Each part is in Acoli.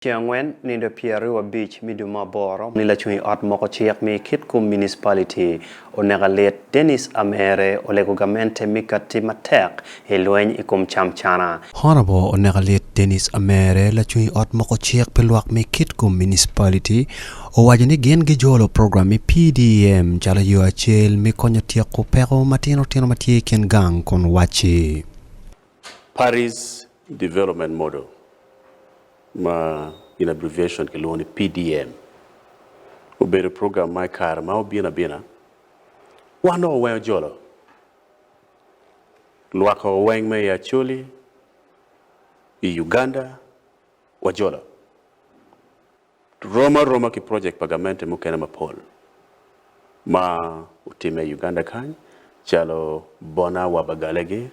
Ceng angwen nindo pyeraryo abic me dwe me aboro ni lacung i ot moko cik me kit kum municipality oneka lit Dennis Amere olego gamente me kati matek i lweny i kum cam cana. Honorable oneka lit Dennis Amere lacung i ot moko cik pi lwak me kit kum municipality owaco ni gin gi jolo program me PDM calo yo acel me konyo tyeko peko matino tino matye i kin gang kun waci. Parties Development Model ma in abbreviation kilwongo ni PDM obedo program ma i kare ma obino abina wan dong oweng ojolo lwakko oweng me i Acholi, i Uganda wajolo. rom aroma ki projek pa gamente mukene mapol ma otimme i Uganda kany calo Bona wa Bagalegi,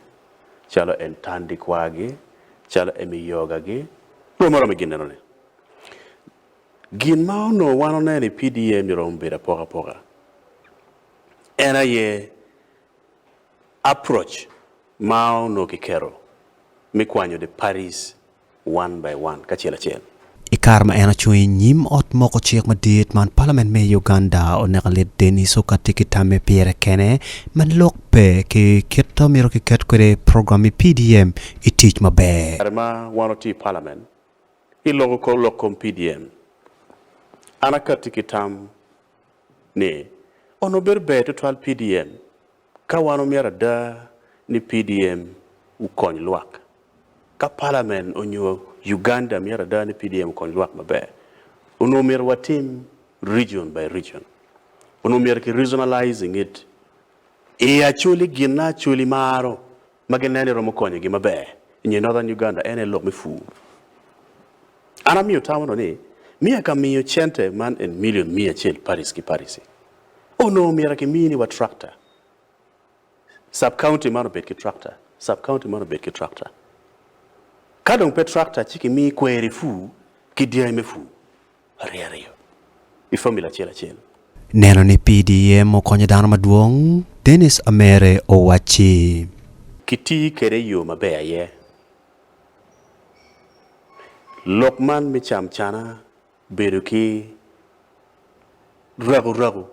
calo Entandi Kwagi, calo Emi Yogagi, rom aroma i ginneno ni. Gin ma onongo wan oneno i PDA ni romo bedo apoka apoka en aye approach ma onongo kiketo me kwanyo the parties one by one, kacel acel. I kare ma en ocung i nyim ot moko cik madit man, palament me Uganda oneka lit Denis Oka tye ki tamme pire kene ma lok pe ki kit ma myero kiket kwede program me PDM i tic maber. Kare ma wan watye i palament, iloko kor lok kom PDM. An akatti ki tam ni, onongo bedo ber tutwal PDM Ka wan omyero ada ni PDM okony lwak, ka Palamen onyo Uganda myero ada ni PDM okony lwak maber, onongo omyero watim region by region. Onongo omyero ki regionalizing it. I Acholi ginna Acholi maro ma ginen ni romo konyogi maber i nge Northern Uganda en aye lok me pur. An amiyo tamo dong ni miya ka miyo cente man en million miya acel parish ki parish-ci onongo myero akimi ni wa tractor, sub-county man obed ki tractor, sub-county man obed ki tractor. Ka dong pe tractor ci kimi kweri pur ki dyangi me pur. ariyariyo i fomula acel acel. Neno ni PDM okonyo dano madwong, Denis Amere owacci. Kitiyo kwede i yo maber aye. Lok man me camcana bedo ki rakurraku,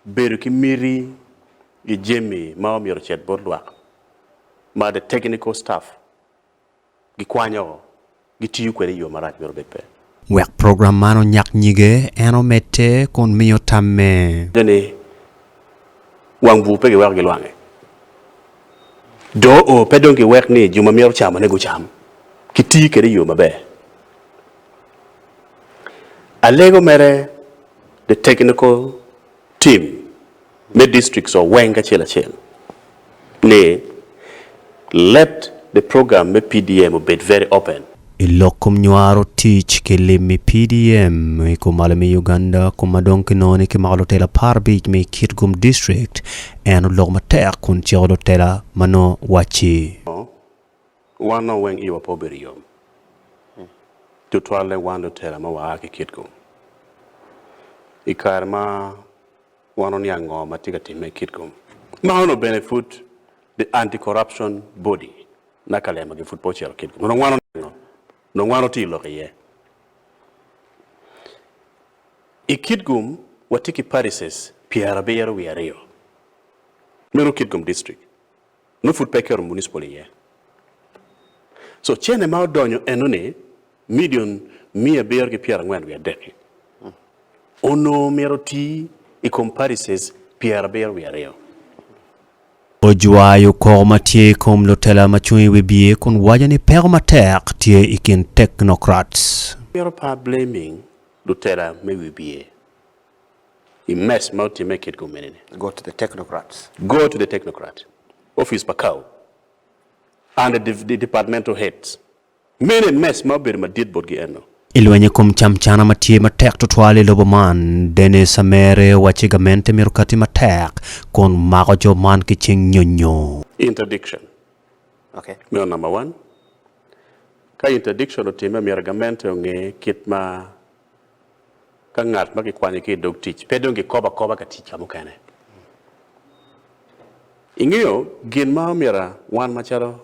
bedo ki miti i jami ma omyero ocit bot lwak ma the technical staff. gikwanyo, gitiyo kwede i yo marac mito bed pe. Wek program man onyak nyige, en omedde kun miyo tamme. Ni wang bur pe giweko gilwange. Doo pe dong giwek ni jo ma mito camone gucam, kitiyo kwede i yo maber. Alego mere, the technical. Tim me districts wa weng acel acel ni let the program me PDM obed very open. I lok kom nywaro tic ki lim i PDM i kom malo me Uganda kom ma dong kinongo ni kimako lutela apar abic me i Kitgum district, en oloko matek kun ciko lutela ma nongo wacci. Wan nongo weng iwa pe obedo yom, tutwalle wan lutela ma waa ki Kitco. I kare ma wan oniang ngo ma tye ka timme i Kitco, ma onongo bene pud the Anti-Corruption Body na Kalema gi pud pe ocito Kitco, onongo wan oniango, onongo wan otiyo lok iye. I Kitco watye ki parishes pyerabiro wiye aryo, meno Kitco District. nongo pud pe keto municipal iye. So cene ma odonyo eno ni million miya abiro ki pyera angwen wiye adek-ki onongo myero oti i kom parishes pyera abiro wiye aryo. Ojwayo koko ma tye i kom lutela ma cung i wi biye kun waco ni peko matek tye i kin technocrats. Myero par blaming lutela me wi biye i mess ma otimme i kit gumene-ni. Go to the technocrats. Go to the technocrats, office pa Kawu, and the the departmental heads. Mene mess ma obedo madit botgi eno. I lweny i kom camcana ma tye matek tutwal i lobo man, Dennis Amere owacci gamente myero okati matek kun mako jo man ki cing nyonyo. Interdiction meno number one. Ka interdiction otimme myero gamente onge kit ma Ka ngat ma kikwanyo ki i dog tic pe dong kikobo akoba ka tic ka mukene, ingeyo gin ma omyero wan macalo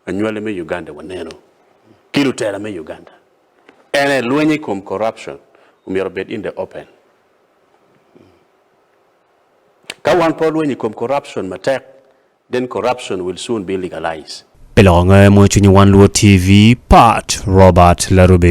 anywali me Uganda wanenu ki lutela me Uganda ene lweny i kom corruption omyero obed in the open. Ka wan pe walweny i kom corruption matek then corruption will soon be legalized. Pi loko nge mo cwinyi wan luwo TV, Pat Robert Larube.